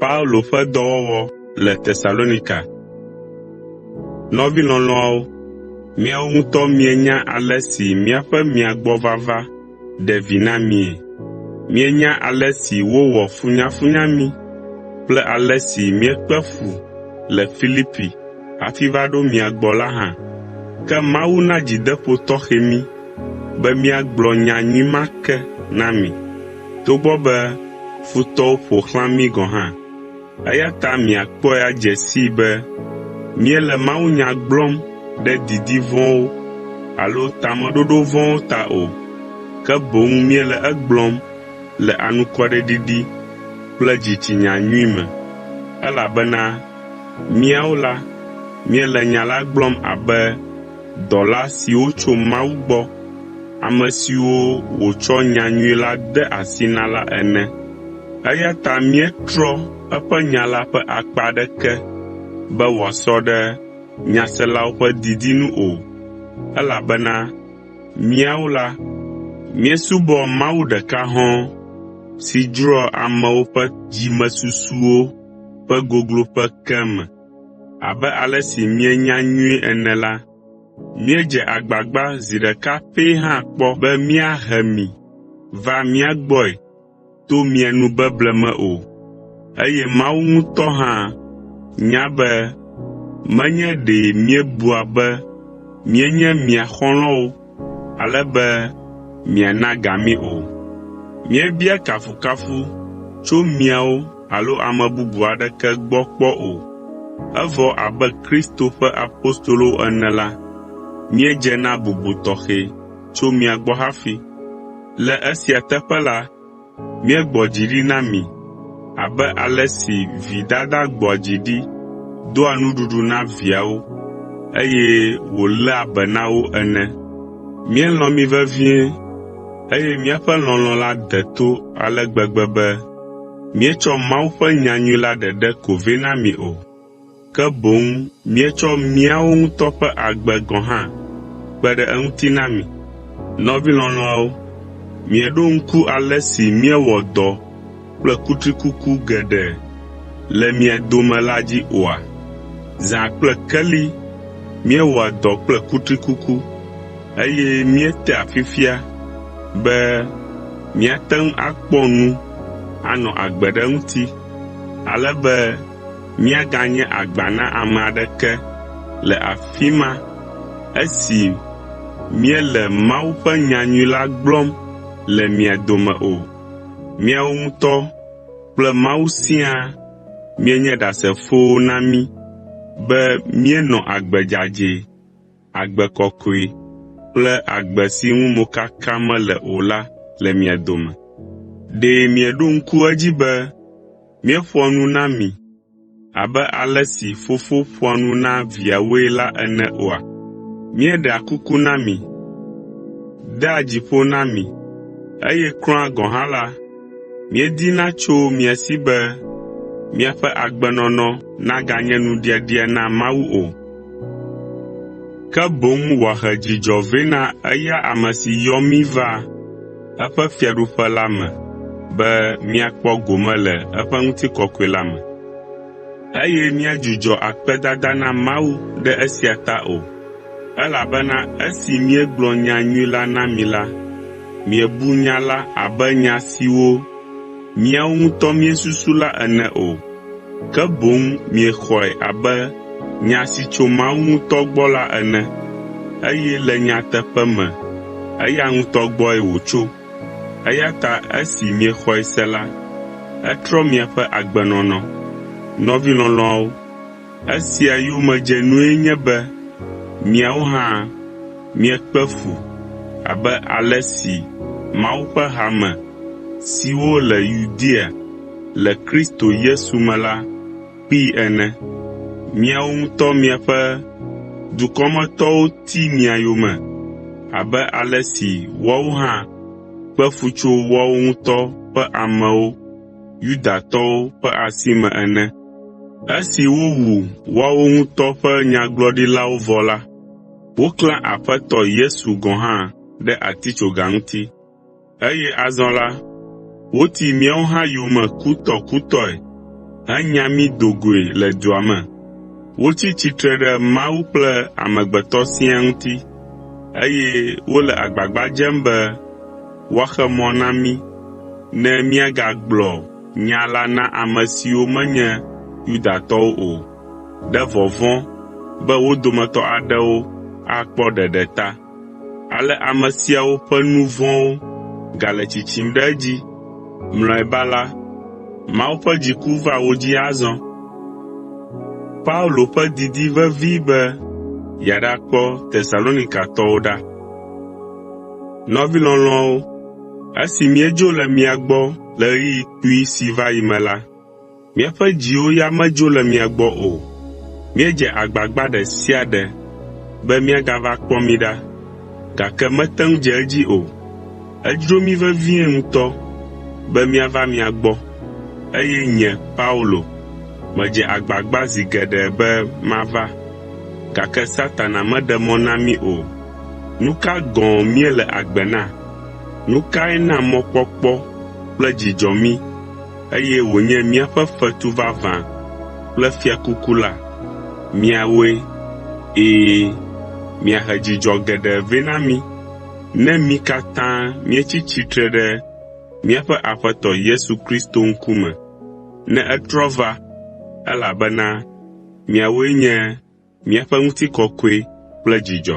Paulo ƒe dɔwɔwɔ le Tesalonika. Nɔvi lɔlɔ̃awo, miawo ŋutɔ mienya ale si míaƒe mia gbɔ vava ɖe vi na mie. Mienya ale si wowɔ funyafunya mí kple ale si míekpe fu le Filipi hafi va ɖo mia gbɔ la hã. Ke Mawu na dzideƒo tɔxɛ mí be míagblɔ nya nyui ma ke na mi, togbɔ be futɔwo ƒo xlã mí gɔ̃ hã. Eya ta miakpɔe adze sii be míele mawunya gblɔm ɖe didi vɔ̃wo alo tameɖoɖo vɔ̃wo ta o, ke boŋ míele egblɔm le anukwareɖiɖi kple dzitsinya nyui me, elabena míawo la, míele nya la gblɔm abe dɔla siwo tso Mawu gbɔ, ame siwo wòtsɔ nya nyui la de asi na la ene. Eya ta míetrɔ eƒe nya la ƒe akpa aɖeke be wòasɔ ɖe nyaselawo ƒe didi nu o, elabena míawo la, míesubɔ Mawu ɖeka hɔ̃ɔ si dzroa amewo ƒe dzimesusuwo ƒe gogloƒe ke me. Abe ale si mienya nyuie ene la, míedze agbagba zi ɖeka pɛ hã kpɔ be míahe mi va mía gbɔe to mia nu beble me o. Eye Mawu ŋutɔ hã nya be menye ɖe míebua be míenye mia xɔlɔ̃wo ale be miana ga mí o. Míebia kafukafu tso miawo alo ame bubu aɖeke gbɔ kpɔ o. Evɔ abe Kristo ƒe apostolowo ene la, míedze na bubu tɔxɛ. tso mia gbɔ hafi. Le esia teƒe la, míegbɔ dzi ɖi na mi abe ale si vi dada gbɔa dzi ɖi doa nuɖuɖu na viawo, eye wòléa be na wo ene. Míelɔ̃ mi vevie, eye míaƒe lɔlɔ̃ la de to ale gbegbe be míetsɔ Mawu ƒe nyanyui la ɖeɖe ko vɛ na mi o. ke boŋ míetsɔ míawo ŋutɔ ƒe agbe gɔ̃ hã kpe ɖe eŋuti na mi. Nɔvi lɔlɔ̃awo, mieɖo ŋku ale si míewɔ dɔ kple kutrikuku geɖe le mia dome la dzi oa? Zã kple keli míewɔa dɔ kple kutrikuku, eye míetea fifia be míate ŋu akpɔ nu anɔ agbe ɖe eŋuti ale be míaganye agba na ame aɖeke le afi ma esi míele Mawu ƒe nyanyui la gblɔm le mia dome o. Miawo ŋutɔ kple Mawu siaa mienye ɖasefowo na mí be míenɔ agbe dzadzɛ. agbe kɔkɔe kple agbe si ŋu mokaka mele o la le mia dome. Ɖe mieɖo ŋku edzi be míeƒoa nu na mi abe ale si fofo ƒoa nu na viawoe la ene oa? Míeɖea kuku na mi, dea dzi ƒo na mi, eye kura gɔ̃ hã la, míedina tso mia si be miaƒe agbenɔnɔ naganye nuɖiaɖia na Mawu o. ke boŋ wòahe dzidzɔ vɛ na eya ame si yɔ mí va eƒe Fiaɖuƒe la me be míakpɔ gome le eƒe ŋutikɔkɔe la me, eye míadzudzɔ akpedada na Mawu ɖe esia ta o. Elabena esi míegblɔ nyanyui la na mi la, miebu nya la abe nya siwo miawo ŋutɔ miesusu la ene o, ke boŋ miexɔe abe nya si tso Mawu ŋutɔ gbɔ la ene, eye le nyateƒe me eya ŋutɔ gbɔe wòtso. Eya ta esi miexɔe se la, etrɔ miaƒe agbenɔnɔ. Nɔvi lɔlɔ̃awo, Esia yomedzenue nye be miawo hã miekpe fu abe ale si Mawu ƒe hame siwo le Yudea le Kristo Yesu me la kpee ene. Miawo ŋutɔ miaƒe dukɔmetɔwo ti mia yome abe ale si woawo hã kpe fu tso woawo ŋutɔ ƒe amewo Yudatɔwo ƒe asi me ene. Esi wowu woawo ŋutɔ ƒe nyagblɔɖilawo vɔ la, woklã Aƒetɔ Yesu gɔ̃ hã ɖe atitsoga ŋuti, eye azɔ la, woti míawo hã yome kutɔkutɔe henya mí do goe le dua me. Wotsi tsitre ɖe Mawu kple amegbetɔ siaa ŋuti, eye wole agbagba dzem be woaxe mɔ na mí ne míagagblɔ nya la na ame siwo menye Yudatɔwo o, ɖe vɔvɔ̃ be wo dometɔ aɖewo akpɔ ɖeɖe ta. Ale ame siawo ƒe nu vɔ̃wo gale tsitsim ɖe edzi. Mlɔeba la, Mawu ƒe dziku va wo dzi azɔ. Paulo Ƒe Didi Vevi Be Yeaɖakpɔ Tesalonikatɔwo Ɖa Nɔvi lɔlɔ̃awo, esi míedzo le mia gbɔ le ɣeyiɣi kpui si va yi me la, míaƒe dziwo ya medzo le mia gbɔ o. Míedze agbagba ɖe sia ɖe be miagava kpɔ mí ɖa, gake mete ŋu dze edzi o. Edzro mí vevie ŋutɔ be míava mia gbɔ, eye nye Paulo, medze agbagba zi geɖe be mava, gake Satana meɖe mɔ na mí o. Nu ka gɔ̃ míele agbe na? Nu kae na mɔkpɔkpɔ kple dzidzɔ mí, eye wònye míaƒe fetu vavã kple fiakuku la? Miawoe! Ɛ̃, miahe dzidzɔ geɖe vɛ na mí ne mí katã míetsi tsitre ɖe míaƒe Aƒetɔ Yesu Kristo ŋkume ne etrɔ va, elabena miawoe nye Míaƒe ŋutikɔkɔe kple dzidzɔ.